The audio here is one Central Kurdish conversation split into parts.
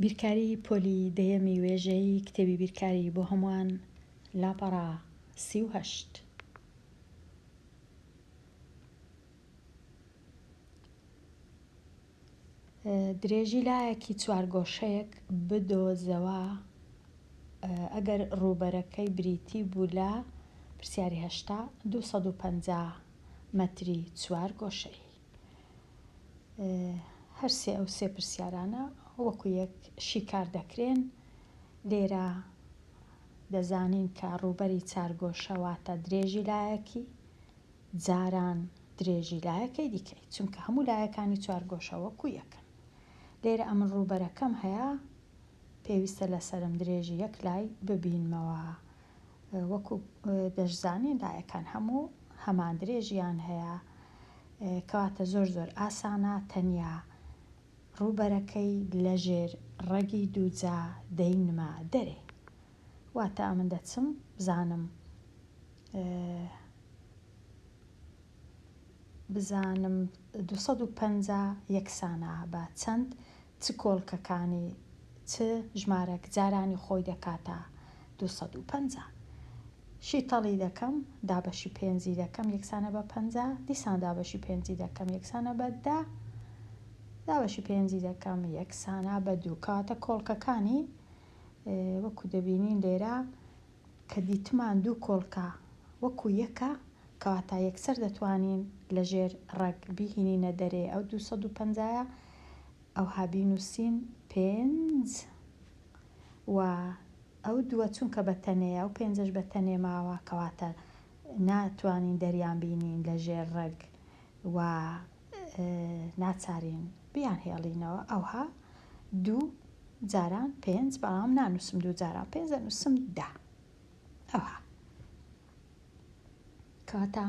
بیرکاری پۆلی دەیەمی وێژەیی کتێبی بیرکاری بۆ هەمووان لاپەڕە سی و هەشت. درێژی لایەکی چوارگۆشەیەک بدۆزەوە ئەگەر ڕووبەرەکەی بریتی بوو لە، پرسیاری هەشتا، دوو سەد و پەنجا مەتری چوارگۆشەیی. هەر سێ ئەو سێ پرسیارانە وەکوو یەک شیکار دەکرێن. لێرە دەزانین کە ڕووبەری چارگۆشە واتە درێژی لایەکی. جاران درێژی لایەکەی دیکەی، چونکە هەموو لایەکانی چوارگۆشە وەکو یەکن. لێرە ئەمن ڕووبەرەکەم هەیە، پێویستە لەسەرم درێژی یەک لای ببینمەوە، وەکو دەشزانین لایەکان هەموو هەمان درێژیان هەیە، کەواتە زۆر زۆر ئاسانە تەنیا ڕووبەرەکەی لەژێر ڕەگی دووجا دەینمە دەرێ. واتە ئەمن دەچم بزانم بزانم دوو سەد و پەنجا یەکسانە بە چەند چ کۆڵکەکانی چ ژمارەک جارانی خۆی دەکاتە دوو سەد و پەنجا شیتەڵی دەکەم دابەشی پێنجی دەکەم یەکسانە بە پەنجا دیسان دابەشی پێنجی دەکەم یەکسانە بە دە دابەشی پێنجی دەکەم یەکسانە بە دوو کاتە کۆڵکەکانی وەکو دەبینین لێرە کە دیتمان دوو کۆڵکە وەکو یەکە کەواتە یەکسەر دەتوانین لەژێر ڕەگ بیهینینە دەرێ ئەو دوو سەد و پەنجایە ئەوها بینوسین پێنج و ئەو دووە چونکە بە تەنێیە ئەو پێنجەش بە تەنێ ماوە کەواتە ناتوانین دەریان بینین لەژێر ڕەگ و ناچارین بیانهێڵینەوە ئەوها دوو جاران پێنج بەڵام نانووسم دوو جاران پێنج دەنووسم دە ئەوها کەواتە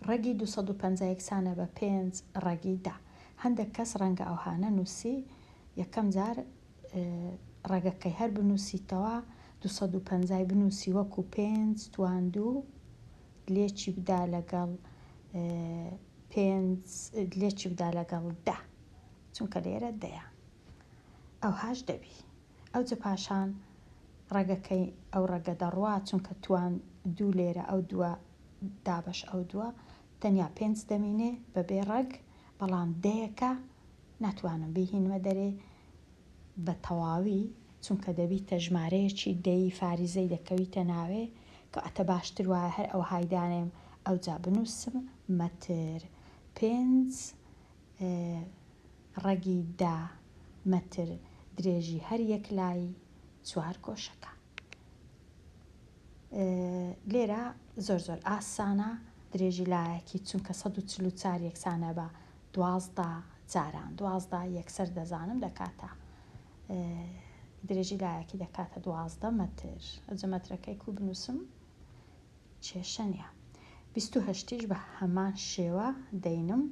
ڕەگی 250 یەکسانە بە پێنج ڕەگی دا هەندێک کەس ڕەنگە ئەوهانە نووسی یەکەم جار ڕەگەکەی هەر بنووسیتەوە 250 بنووسی وەکو پێنج تواندوو لێکی بدا لەگەڵ پێنج لێکی بدا لەگەڵ دە چونکە لێرە دەیە ئەوهاش دەبی ئەوجە پاشان ڕەگەکەی ئەو ڕەگە دەڕوا چونکە توان دوو لێرە ئەو دووە دابش ئەو دووە تەنیا پێنج دەمینێ بەبێ ڕەگ بەڵام دەیەکە ناتوانم بیهینمە دەرێ بە تەواوی چونکە دەبیتە ژمارەیەکی دەی فاریزەی دەکەویتە ناوێ کەواتە باشتر وایە هەر ئەوهای دانێم ئەوجا بنووسم مەتر پێنج ڕەگی دە مەتر درێژی هەر یەک لای چوار گۆشەکە لێرە زۆر زۆر ئاسانە درێژی لایەکی چونکە سەد و چل و چار یەکسانە بە دوازدە جاران دوازدە یەکسەر دەزانم دەکاتە درێژی لایەکی دەکاتە دوازدە مەتر ئەجە مەترەکەی کو بنووسم کێشە نیە بیست و هەشتیش بە هەمان شێوە دەینم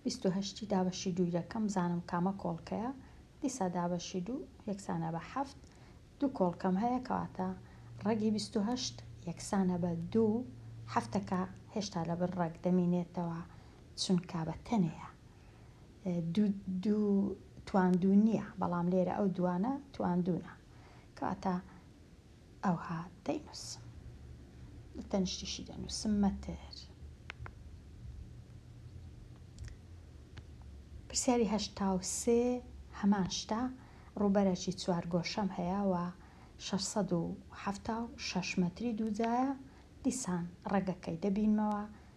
بیست و هەشتی دابەشی دووی دەکەم بزانم کامە کۆڵکەیە دیسا دابەشی دوو یەکسانە بە حەفت دوو کۆڵکەم هەیە کەواتە ڕەگی بیست و هەشت یەکسانە بە دوو هەفتەکە هێشتا لەبەر ڕەگ دەمینێتەوە چونکە بە تەنێیە دوو دوو تواندوو نییە بەڵام لێرە ئەو دوانە تواندوونە کەواتە ئەوها دەینووسم تەنیشتیشی دەنووسم مەتر پرسیاری هەشتا و سێ هەمان شتە ڕووبەرەکی چوار گۆشەم هەیە و 676 مەتری دووجایە دیسان ڕێگەکەی دەبینمەوە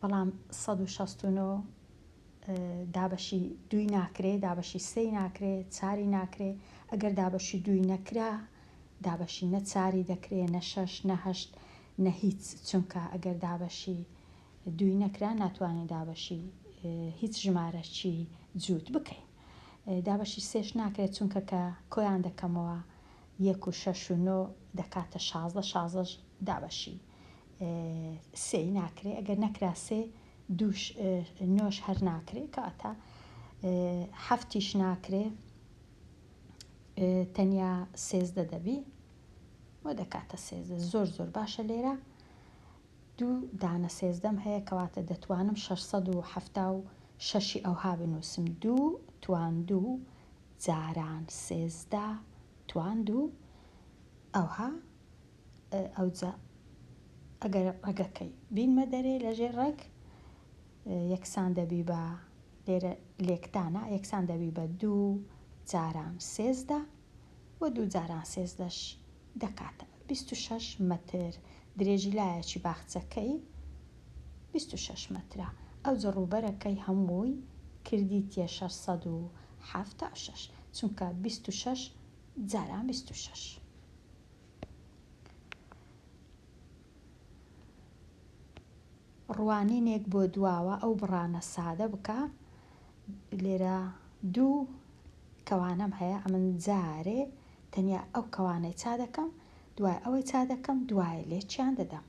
بەڵام سەد و شەست و نۆ دابەشی دووی ناکرێ، دابەشی سێی ناکرێ، چاری ناکرێ، ئەگەر دابەشی دووی نەکرا، دابەشی نە چاری دەکرێ، نە شەش، نە هەشت، نە هیچ، چونکە ئەگەر دابەشی دووی نەکرا، ناتوانین دابەشی هیچ ژمارەکی جووت بکەین. دابەشی سێش ناکرێ، چونکە کە کۆیان دەکەمەوە، یەک و شەش و نۆ دەکاتە شازدە، شازدەش دابەشی. سێی ناکرێ ئەگەر نەکرا سێ دووش نۆش هەر ناکرێ کەواتە حەفتیش ناکرێ تەنیا سێزدە دەبی و دەکاتە سێزدە زۆر زۆر باشە لێرە دوو دانە سێزدەم هەیە کەواتە دەتوانم 676 ئەوها بنووسم دوو توان دوو جاران سێزدە توان دوو ئەوها ئەوجا ئەگەر ڕەگەکەی بینمە دەرێ لە ژێر ڕەگ یەکسان دەبی بە لێرە لێکدانە یەکسان دەبی بە دوو جاران سێزدە و دوو جاران سێزدەش دەکاتە بیست و شەش مەتر درێژی لایەکی باخچەکەی بیست و شەش مەترە ئەوجە ڕووبەرەکەی هەمووی کردیتیە شەش سەد و حەفتا و شەش چونکە بیست و شەش جاران بیست و شەش. ڕوانینێک بۆ دواوە ئەو بڕانە سادە بکە لێرە دوو کەوانەم هەیە ئەمن جارێ تەنیا ئەو کەوانەی چا دەکەم دوای ئەوەی چا دەکەم دوای لێکیان دەدەم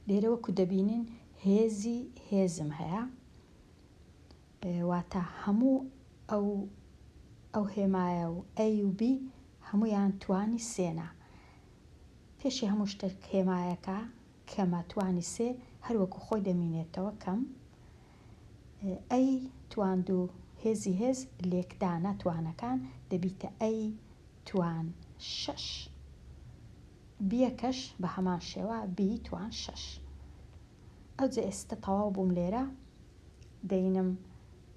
لێرە وەکو دەبینین هێزی هێزم هەیە واتە هەموو ئەو ئەو هێمایە و A و B هەموویان توانی سێنە. پێشی هەموو شتێک هێمایەکە کەمە توانی سێ هەر وەکو خۆی دەمینێتەوە کەم A تواندوو هێزی هێز لێکدانە توانەکان دەبیتە A توان شەش بیەکەش بە هەمان شێوە B توان شەش. ئەوجە ئێستە تەواو بووم لێرە دەینم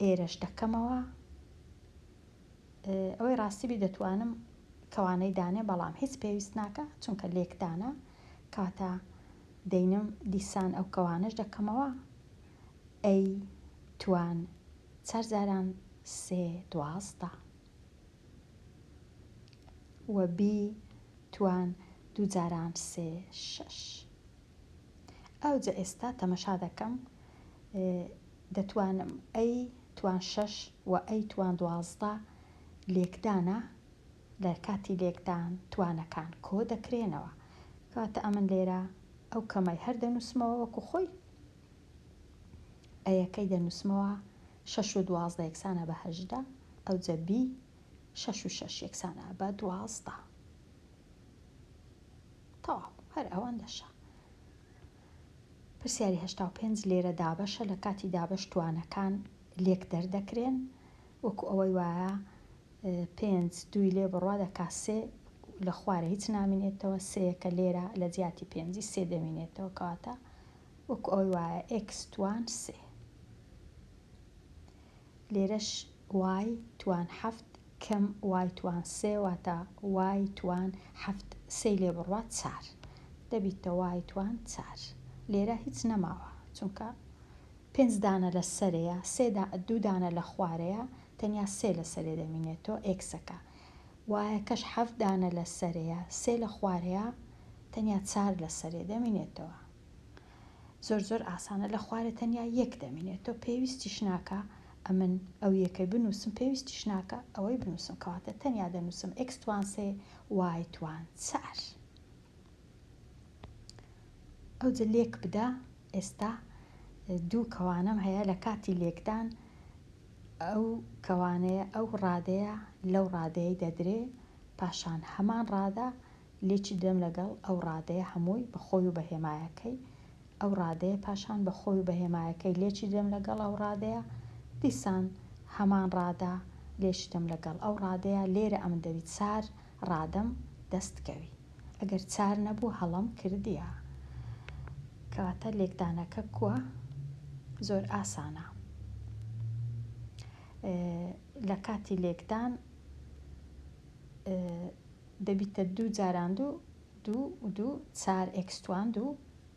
ئێرەش دەکەمەوە ئەوەی ڕاستی بی دەتوانم کەوانەی دانێ بەڵام هیچ پێویست ناکە چونکە لێکدانە کاتە دەینم دیسان ئەو کەوانش دەکەمەوە ئەی توان چار جاران سێ دوازدە وە بی توان دوو جاران سێ شەش ئەوجە ئێستا تەمەشا دەکەم دەتوانم ئەی توان شەش و ئەی توان دوازدە لێکدانە لە کاتی لێکدان توانەکان کۆ دەکرێنەوە کەواتە ئەمن لێرە ئەو کەمەی هەر دەنووسمەوە وەکو خۆی ئەیەکەی دەنووسمەوە شەش و دوازدە یەکسانە بە هەژدە ئەوجە بی شەش و شەش یەکسانە بە دوازدە تەواو هەر ئەوەندەشە. پرسیاری هەشتا و پێنج لێرە دابەشە لە کاتی دابەش توانەکان لێک دەردەکرێن وەکو ئەوەی وایە پێنج دووی لێ بڕوا دەکا سێ لە خوارە هیچ نامینێتەوە سێیەکە لێرە لە جیاتی پێنجی سێ دەمینێتەوە کەواتە وەکو ئەوەی وایە ئێکس توان سێ لێرەش وای توان حەفت کم وای توان سێ واتە وای توان حەفت سێی لێ بڕوات چار دەبیتە وای توان چار لێرە هیچ نەماوە چونکە پێنج دانە لە سەرێیە سێ دا دوو دانە لە خوارێیە تەنیا سێ لە سەرێ دەمینێتۆ ئێکسەکە وایەکەش حەفت دانە لە سەرێیە سێ لە خوارێیە تەنیا چار لە سەرێ دەمینێتەوە. زۆر زۆر ئاسانە لە خوارێ تەنیا یەک دەمینێت تۆ پێویستیش ناکا ئەمن ئەو یەکەی بنووسم پێویستیش ناکا ئەوەی بنووسم کەواتە تەنیا دەنووسم ئێکس توان سێ وای توان چار ئەوجە لێک بدا ئێستا دوو کەوانەم هەیە لە کاتی لێکدان ئەو کەوانەیە ئەو ڕادەیە لەو ڕادەیە دەدرێ پاشان هەمان ڕادە لێکی دەم لەگەڵ ئەو ڕادەیە هەمووی بە خۆی و بە هێمایەکەی ئەو ڕادەیە پاشان بە خۆی و بە هێمایەکەی لێکی دەم لەگەڵ ئەو ڕادەیە دیسان هەمان ڕادە لێکی دەم لەگەڵ ئەو ڕادەیە لێرە ئەمن دەبی چار ڕادەم دەست کەوی ئەگەر چار نەبوو هەڵەم کردیە کەواتە لێکدانەکە کووە زۆر ئاسانە لە کاتی لێکدان دەبیتە دوو جاران دوو دوو و دوو چار ئێکس توان دوو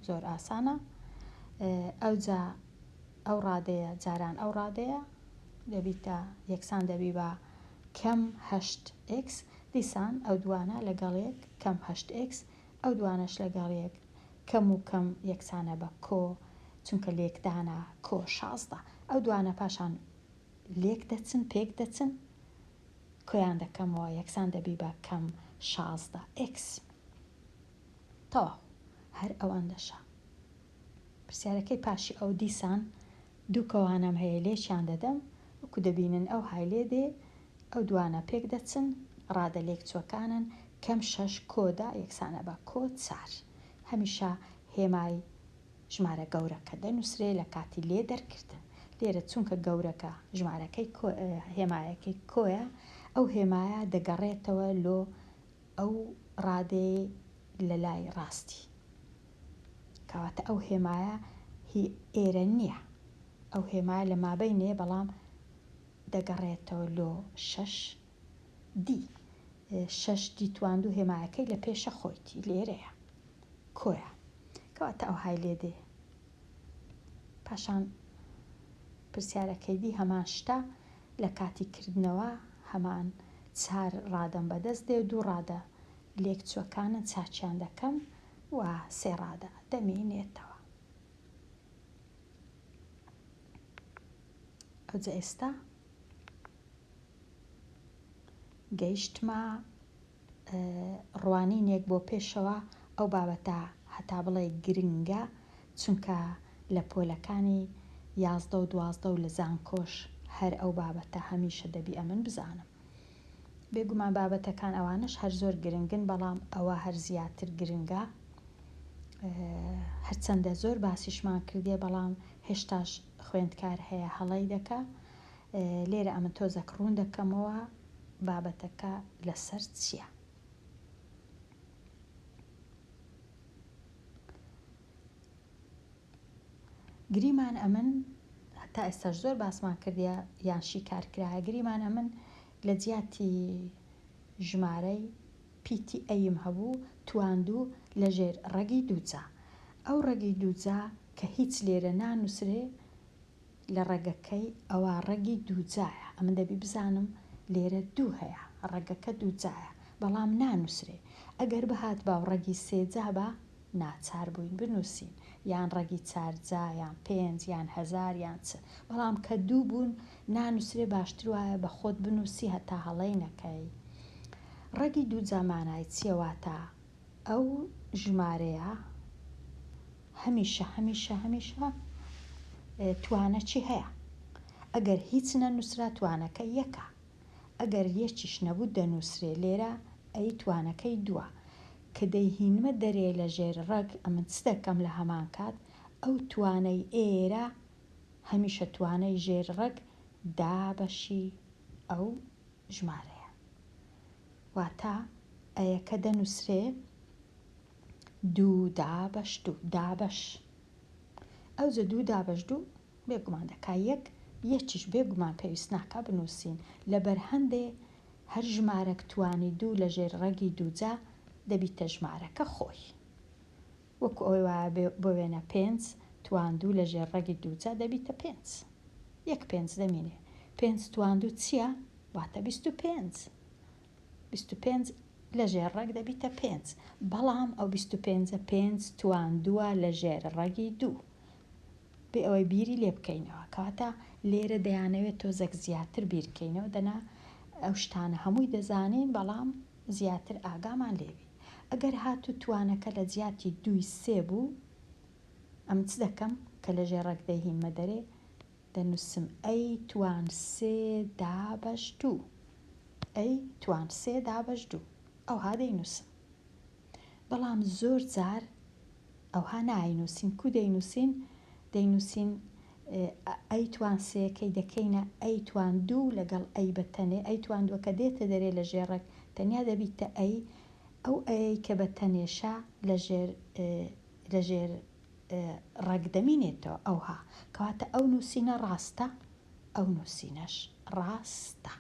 زۆر ئاسانە ئەوجا ئەو ڕادەیە جاران ئەو ڕادەیە دەبیتە یەکسان دەبی بە کەم هەشت ئێکس دیسان ئەو دوانە لەگەڵ یەک کەم هەشت ئێکس ئەو دوانەش لەگەڵ یەک کەم و کەم یەکسانە بە کۆ چونکە لێکدانە کۆ شازدە ئەو دوانە پاشان لێک دەچن پێک دەچن کۆیان دەکەمەوە یەکسان دەبی بە کەم شازدە ئێکس تەواو هەر ئەوەندەشە پرسیارەکەی پاشی ئەو دیسان دوو کەوانەم هەیە لێکیان دەدەم وەکو دەبینن ئەو های لێ دێ ئەو دوانە پێک دەچن ڕادە لێک چووەکانن کەم شەش کۆدا یەکسانە بە کۆ چار هەمیشە هێمای ژمارە گەورەکە دەنووسرێ لە کاتی لێ دەرکردن. لێرە چونکە گەورەکە ژمارەکەی کۆ هێمایەکەی کۆیە، ئەو هێمایە دەگەڕێتەوە لۆ ئەو ڕادەیەی لە لای ڕاستی. کەواتە ئەو هێمایە هی ئێرە نییە. ئەو هێمایە لە مابەینێ بەڵام دەگەڕێتەوە لۆ شەش دی. شەش دی تواندوو هێمایەکەی لە پێشە خۆیتی لێرەیە. کۆیە کەواتە ئەوهای لێ دێ پاشان پرسیارەکەی دی هەمان شتە لە کاتی کردنەوە هەمان چار ڕادەم بەدەست دێ دوو ڕادە لێک چوەکانن چاکیان دەکەم و سێ ڕادە دەمی نێتەوە ئەوجە ئێستا گەیشتمە ڕوانینێک بۆ پێشەوە ئەو بابەتە هەتا بڵێی گرنگە چونکە لە پۆلەکانی یازدە و دوازدە و لە زانکۆش هەر ئەو بابەتە هەمیشە دەبی ئەمن بزانم بێ گومان بابەتەکان ئەوانەش هەر زۆر گرنگن بەڵام ئەوە هەر زیاتر گرنگە هەرچەندە زۆر باسیشمان کردیە بەڵام هێشتاش خوێندکار هەیە هەڵەی دەکا لێرە ئەمن تۆزەک ڕوون دەکەمەوە بابەتەکە لەسەر چیە؟ گریمان ئەمن هەتا ئێستاش زۆر باسمان کردیە یان شیکار کرایە گریمان ئەمن لە جیاتی ژمارەی پیتی ئەیم هەبوو تواندوو لەژێر ڕەگی دووجا ئەو ڕەگی دووجا کە هیچ لێرە نانووسرێ لە ڕەگەکەی ئەوا ڕەگی دووجایە ئەمن دەبی بزانم لێرە دوو هەیە ڕەگەکە دووجایە بەڵام نانووسرێ ئەگەر بهات باو ڕەگی سێجا با ناچار بووین بنووسین یان ڕەگی چارجا یان پێنج یان هەزار یان چ بەڵام کە دوو بوون نانووسرێ باشتر وایە بە خۆت بنووسی هەتا هەڵەی نەکەی ڕەگی دووجا مانای چیە واتا ئەو ژمارەیە هەمیشە هەمیشە هەمیشە توانە چی هەیە؟ ئەگەر هیچ نەنووسرا توانەکە یەکە، ئەگەر یەکیش نەبوو دەنووسرێ، لێرە ئەی توانەکەی دووە. کە دەیهینمە دەرێ لە ژێر ڕەگ ئەمن چ دەکەم لە هەمان کات؟ ئەو توانەی ئێرە هەمیشە توانەی ژێر ڕەگ دابەشی ئەو ژمارەیە. واتە ئەیەکە دەنووسرێ. دوو دابەش دوو دابەش ئەوجە دوو دابەش دوو بێگومان دەکا یەک یەکیش بێگومان پێویست ناکا بنووسین لەبەر هەندێ هەر ژمارەک توانی دوو لە ژێر ڕەگی دووجا دەبیتە ژمارەکە خۆی وەکو ئەوەی وایە بۆ وێنە پێنج تواندوو لە ژێر ڕەگی دووجا دەبیتە پێنج یەک پێنج دەمینێ پێنج تواندوو چییە واتە بیست و پێنج بیست و پێنج لە ژێر ڕەگ دەبیتە پێنج، بەڵام ئەو بیست و پێنجە پێنج تواندووە لە ژێر ڕەگی دوو، بێ ئەوەی بیری لێ بکەینەوە. کەواتە لێرە دەیانەوێت تۆزێک زیاتر بیر کەینەوە، دەنا ئەو شتانە هەمووی دەزانین، بەڵام زیاتر ئاگامان لێ بی. ئەگەر هاتوو توانەکە لە جیاتی دووی سێ بوو، ئەمن چ دەکەم کە لە ژێر ڕەگ دەیهینمە دەرێ؟ دەنووسم ئەی توان سێ دابەش دوو ئەی توان سێ دابەش دوو ئەوها دەینووسم بەڵام زۆر جار ئەوها ناینووسین کو دەینووسین دەینووسین ئەی توان سێەکەی دەکەینە ئەی توان دوو لەگەڵ ئەی بە تەنێ ئەی توان دووەکە دێتە دەرێ لە ژێڕێک تەنیا دەبیتە ئەی ئەو ئەی کە بە تەنێشە لە ژێر لە ژێر ڕەگ دەمینێتەوە ئەوها کەواتە ئەو نوسینە ڕاستە ئەو نوسینەش ڕاستە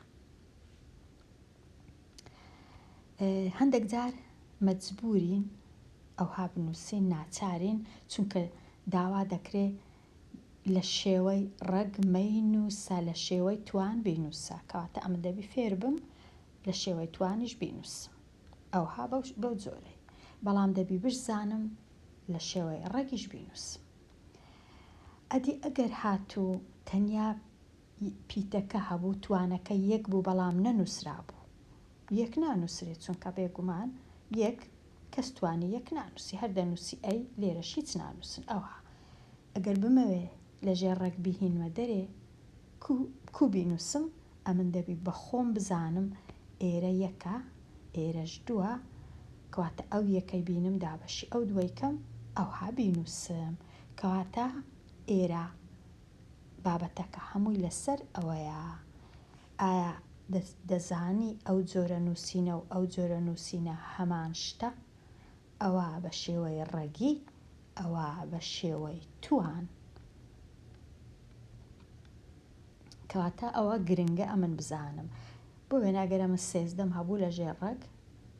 هەندێک جار مەجبورین ئەوها بنووسین ناچارین چونکە داوا دەکرێ لە شێوەی ڕەگ مەینوسە لە شێوەی توان بینوسە کەواتە ئەمە دەبی فێر بم لە شێوەی توانیش بینوسم ئەوها بەو جۆرەی بەڵام دەبی بشزانم لە شێوەی ڕەگیش بینووس. ئەدی ئەگەر هاتوو تەنیا ی پیتەکە هەبوو توانەکە یەک بوو بەڵام نەنووسرابوو؟ یەک نانووسرێ چونکە بێگومان یەک کەس توانی یەک نانووسی هەر دەنووسی ئەی لێرەش هیچ نانووسن ئەوها ئەگەر بمەوێ لە ژێر ڕەگ بیهینمە دەرێ کو بینووسم ئەمن دەبی بە خۆم بزانم ئێرە یەکە ئێرەش دووە کەواتە ئەو یەکەی بینم دابەشی ئەو دووەی کەم ئەوها بینووسم کەواتە ئێرە بابەتەکە هەمووی لەسەر ئەوەیە ئایا دەزانی ئەو جۆرە نووسینە و ئەو جۆرە نووسینە هەمان شتە؟ ئەوا بە شێوەی ڕەگی، ئەوا بە شێوەی توان. کەواتە ئەوە گرنگە ئەمن بزانم. بۆ وێنە ئەگەر ئەمن سێزدەم هەبوو لە ژێر ڕەگ،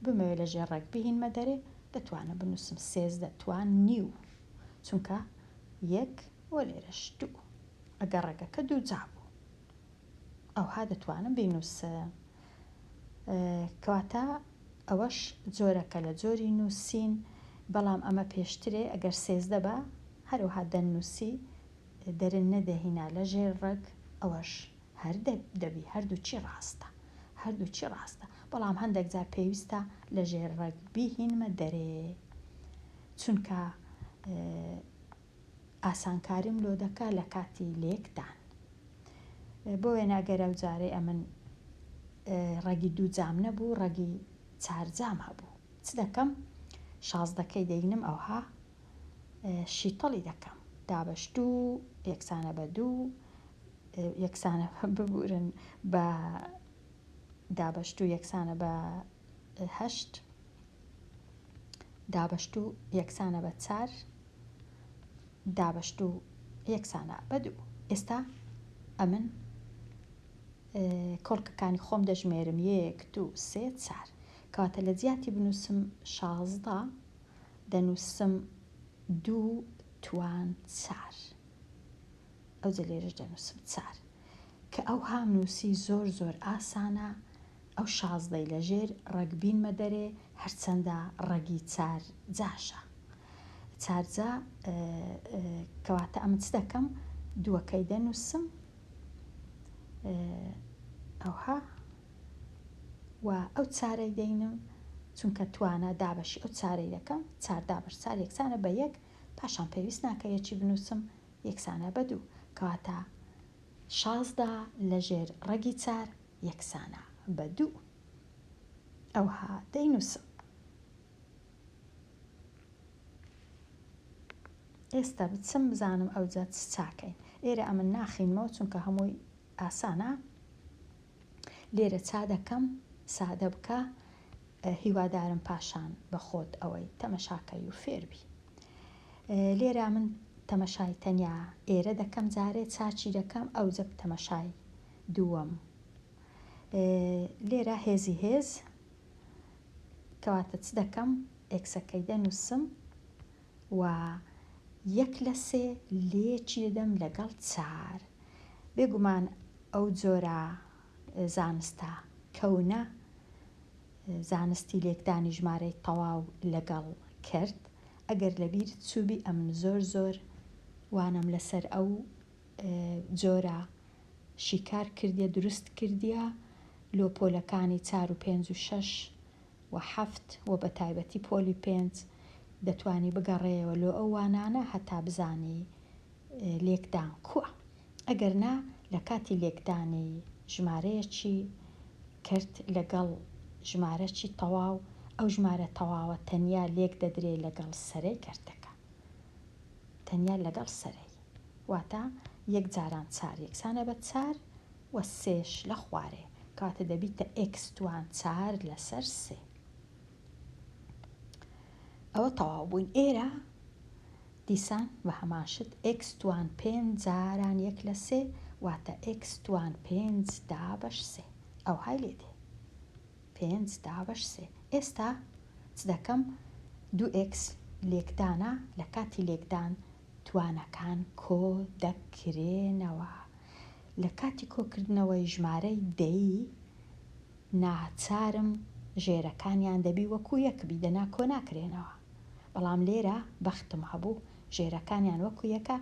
بمەوێ لە ژێر ڕەگ بهینمە دەرێ، دەتوانم بنووسم سێزدە توان نیو، چونکە یەک و لێرەش دوو، ئەگەر ڕەگەکە دووجا بوو. ئەوها دەتوانم بینووسم. کەواتە ئەوەش جۆرەکە لە جۆری نووسین، بەڵام ئەمە پێشترێ ئەگەر سێزدە با هەرەوها دەننووسی، دەرن نەدەهینا لە ژێر ڕەگ، ئەوەش هەر دەبی، هەردووچی ڕاستە، هەردووچی ڕاستە، بەڵام هەندەک جار پێویستە لە ژێر ڕەگ بیهینمە دەرێ، چونکە. ئاسانکاریم لۆ دەکا لە کاتی لێکدان بۆ وێنە گەر ئەو جارەی ئەمن ڕەگی دوو جام نەبوو ڕەگی چار جام هەبوو چ دەکەم شازدەکەی دەینم ئەوها شیتەڵی دەکەم دابەش دوو یەکسانە بە دوو یەکسانە ببورن بە دابەش دوو یەکسانە بە هەشت دابەشتوو یەکسانە بە چار دابەشتوو یەکسانە بە دوو ئێستا ئەمن کۆڵکەکانی خۆم دەژمێرم یەک دوو سێ چار کەواتە لە جیاتی بنووسم شازدە دەنووسم دوو توان چار ئەوجە لێرش دەنووسم چار کە ئەو هامنووسی زۆر زۆر ئاسانە ئەو شازدەی لە ژێر ڕەگ بینمە دەرێ هەرچەندە ڕەگی چار جاشە چار جا کەواتە ئەمن چ دەکەم دووەکەی دەنووسم ئەوها و ئەو چارەی دەینم چونکە توانا دابەشی ئەو چارەی دەکەم چار دابش چار یەکسانە بە یەک پاشان پێویست ناکە یەکی بنووسم یەکسانە بە دوو کەواتە شازدە لە ژێر ڕەگی چار یەکسانە بە دوو. ئەوها دەینووسم. ئێستا بچم بزانم ئەوجا چ چاکەین. ئێرە ئەمن ناخینمەوە چونکە هەمووی ئاسانە. لێرە چا دەکەم سادە بکە. هیوادارم پاشان بە خۆت ئەوەی تەمەشاکەی و فێر بی. لێرە من تەمەشای تەنیا ئێرە دەکەم جارێ چا چی دەکەم ئەوجە تەمەشای دووەم لێرە هێزی هێز کەواتە چ دەکەم ئێکسەکەی دەنووسم و یەک لە سێ لێکی دەدەم لەگەڵ چار بێگومان ئەو جۆرە زانستە کەونە زانستی لێکدانی ژمارەی تەواو لەگەڵ کرد ئەگەر لەبیر چوبی ئەمن زۆر زۆر وانەم لەسەر ئەو جۆرە شیکار کردیە دروست کردیە لۆ پۆلەکانی چار و پێنج و شەش و حەفت وە بەتایبەتی پۆلی پێنج دەتوانی بگەڕێیەوە لۆ ئەو وانانە هەتا بزانی لێکدان کووە ئەگەر نا لە کاتی لێکدانی ژمارەیەکی کرد لەگەڵ ژمارەکی تەواو ئەو ژمارە تەواوە تەنیا لێک دەدرێ لەگەڵ سەرەی کەرتەکە تەنیا لەگەڵ سەرەی. واتە، یەک جاران چار یەکسانە بە چار و سێش لە خوارێ، کەواتە دەبیتە ئێکس دوان چار لەسەر سێ. ئەوە تەواو بووین. ئێرە دیسان بە هەمان شت ئێکس دوان پێنج جاران یەک لە سێ، واتە ئێکس دوان پێنج دا بەش سێ. ئەوهای لێ دێ. پێنج دا بەش سێ. ئێستا چ دەکەم؟ دوو ئێکس لێکدانە، لە کاتی لێکدان توانەکان کۆ دەکرێنەوە. لە کاتی کۆکردنەوەی ژمارەی دەیی ناچارم ژێرەکانیان دەبی وەکو یەک بی دەنا کۆ ناکرێنەوە بەڵام لێرە بەختم هەبوو ژێرەکانیان وەکو یەکە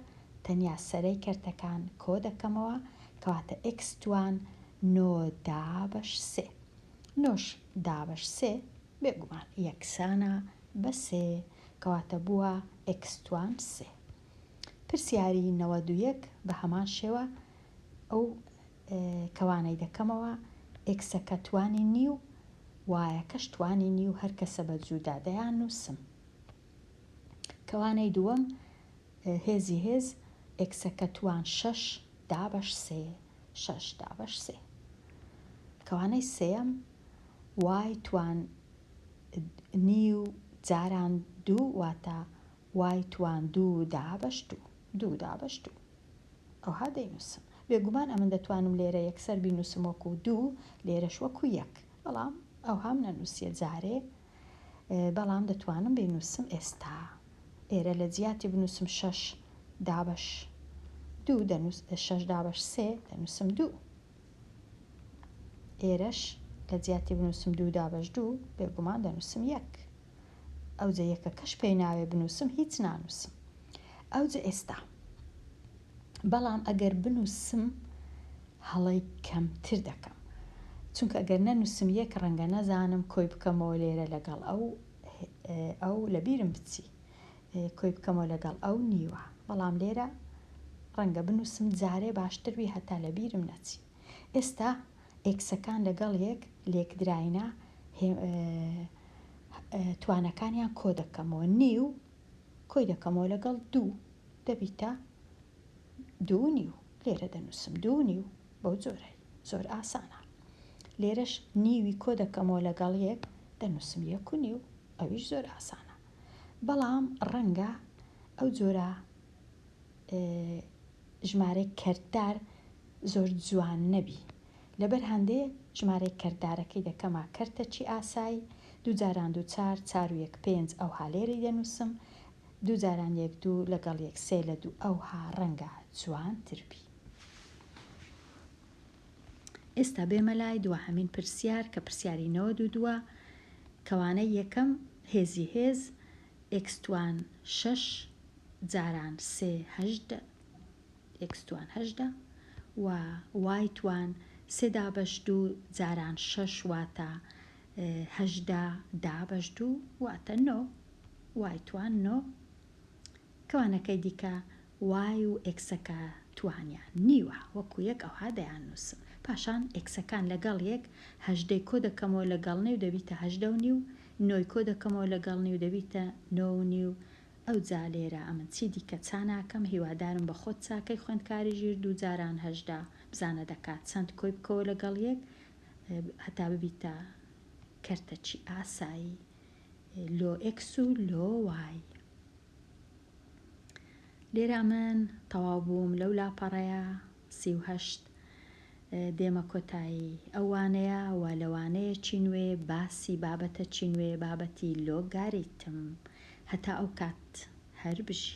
تەنیا سەرەی کەرتەکان کۆ دەکەمەوە کەواتە ئێکس توان نۆ دابەش سێ. نۆش دابەش سێ. بێگومان یەکسانە بە سێ کەواتە بووە ئێکس توان سێ. پرسیاری نەوەد و یەک بە هەمان شێوە ئەو کەوانەی دەکەمەوە ئێکسەکە توانی نیو وایەکەش توانی نیو هەرکەسە بە جوودا دەیان نووسم. کەوانەی دووەم هێزی هێز ئێکسەکە توان شەش دابەش سێ شەش دابەش سێ کەوانەی سێەم وای توان نیو جاران دوو واتە وای توان دوو دابەش دوو دوو دابەش دوو ئەوها دەینووسم بێگومان ئەمن دەتوانم لێرە یەکسەر بینووسم وەکو دوو لێرەش وەکو یەک بەڵام ئەوهام نەنووسیە جارێ بەڵام دەتوانم بینووسم ئێستا ئێرە لە جیاتی بنووسم شەش دابەش دوو دەنووس شەش دابەش سێ دەنووسم دوو ئێرەش لە جیاتی بنووسم دوو دابەش دوو بێگومان دەنووسم یەک ئەوجە یەکە کەش پێی ناوێ بنووسم هیچ نانووسم ئەوجە ئێستا بەڵام ئەگەر بنووسم هەڵەی کەمتر دەکەم چونکە ئەگەر نەنووسم یەک ڕەنگە نەزانم کۆی بکەمەوە لێرە لەگەڵ ئەو ئەو لەبیرم بچی کۆی بکەمەوە لەگەڵ ئەو نیوە بەڵام لێرە ڕەنگە بنووسم جارێ باشتر وی هەتا لەبیرم نەچی ئێستا ئێکسەکان لەگەڵ یەک لێکدراینە توانەکانیان کۆ دەکەمەوە نیو کۆی دەکەمەوە لەگەڵ دوو دەبیتە دوو نیو. لێرە دەنووسم دوو و نیو بەو جۆرەی زۆر ئاسانە. لێرەش نیوی کۆ دەکەمەوە لەگەڵ یەک دەنووسم یەک و نیو ئەویش زۆر ئاسانە. بەڵام ڕەنگە ئەو جۆرە ژمارەی کەرتدار زۆر جوان نەبی لەبەر هەندێ ژمارەی کەرتدارەکەی دەکەمە کەرتەچی ئاسای دوو جاران دوو چار چار و یەک پێنج ئەوها لێرەی دەنووسم دوو جاران یەک دوو لەگەڵ یەک سێ لە دوو ئەوها ڕەنگە جوانتر بی. ئێستا بێمە لای دواهەمین پرسیار کە پرسیاری نەوەد و دووە کەوانە یەکەم هێزی هێز ئێکستوان شەش جاران سێ هەشت ئێکستوان هەشت و وایتوان سێ دابەش دوو جاران شەش واتە هەژدە دابەش دوو واتە نۆ وای توان نۆ کەوانەکەی دیکە وای و ئێکسەکە توانیان نیوە وەکو یەک ئەوها دەیاننووسم پاشان ئێکسەکان لەگەڵ یەک هەژدەی کۆ دەکەمەوە لەگەڵ نێو دەبیتە هەژدە و نیو نۆی کۆ دەکەمەوە لەگەڵ نیو دەبیتە نۆ و نیو ئەوجا لێرە ئەمن چی دیکە چا ناکەم هیوادارم بە خۆت چاکەی خوێندکاری ژیر دوو جاران هەژدە بزانە دەکات چەند کۆی بکەوە لەگەڵ یەک هەتا ببیتە کەرتەچی ئاسایی لۆ ئێکس و لۆ وای لێرا من تەواو بووم لەو لاپەڕەیە سیهشت دێمە کۆتایی ئەوانەیە و لەوانەیە چی نوێ باسی بابەتە چی نوێ بابەتی لۆگاریتم هەتا ئەو کات هەر بژی